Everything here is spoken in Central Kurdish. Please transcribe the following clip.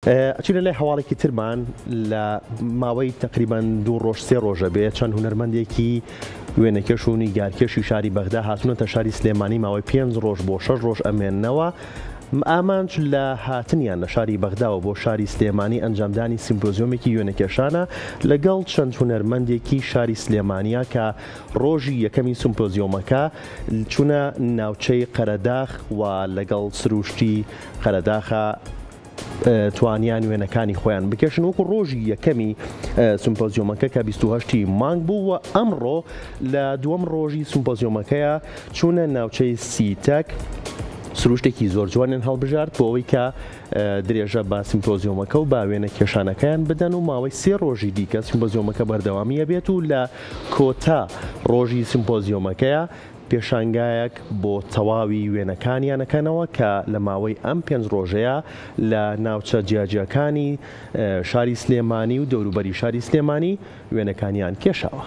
ئەچینە لای هەواڵێکی ترمان لە ماوەی تەقریبان دوو ڕۆژ سێ ڕۆژە بێ چەند هونەرمەندێکی وێنەکێش و نیگارکێشی شاری بەغدا هاتونەتە شاری سلێمانی ماوەی پێنج ڕۆژ بۆ شەش ڕۆژ ئەمێننەوە ئامانج لە هاتنیان لە شاری بەغداوە بۆ شاری سلێمانی ئەنجامدانی سیمپۆزیۆمێکی وێنەکێشانە لەگەڵ چەند هونەرمەندێکی شاری سلێمانیا کە ڕۆژی یەکەمی سمپۆزیۆمەکە چونە ناوچەی قەرەداخ و لەگەڵ سروشتی قەرەداخە توانیان وێنەکانی خۆیان بکێشن وەکو ڕۆژی یەکەمی سمپۆزیۆمەکە کە 28 مانگ بوو و ئەمڕۆ لە دووەم ڕۆژی سمپۆزیۆمەکەیە چوونە ناوچەی سیتەک سروشتێکی زۆر جوانیان هەڵبژارد بۆ ئەوەی کە درێژە بە سمپۆزیۆمەکە و باوێنە کێشانەکەیان بدەن و ماوەی سێ ڕۆژی دیکە سمپۆزیۆمەکە بەردەوامیە بێت و لە کۆتا ڕۆژی سمپۆزیۆمەکەیە پێشانگایەک بۆ تەواوی وێنەکانیان ئەکەنەوە کە لە ماوەی ئەم پێنج ڕۆژەیا لە ناوچە جیاجیاکانی شاری سلێمانی و دەوروبەری شاری سلێمانی وێنەکانیان کێشاوە.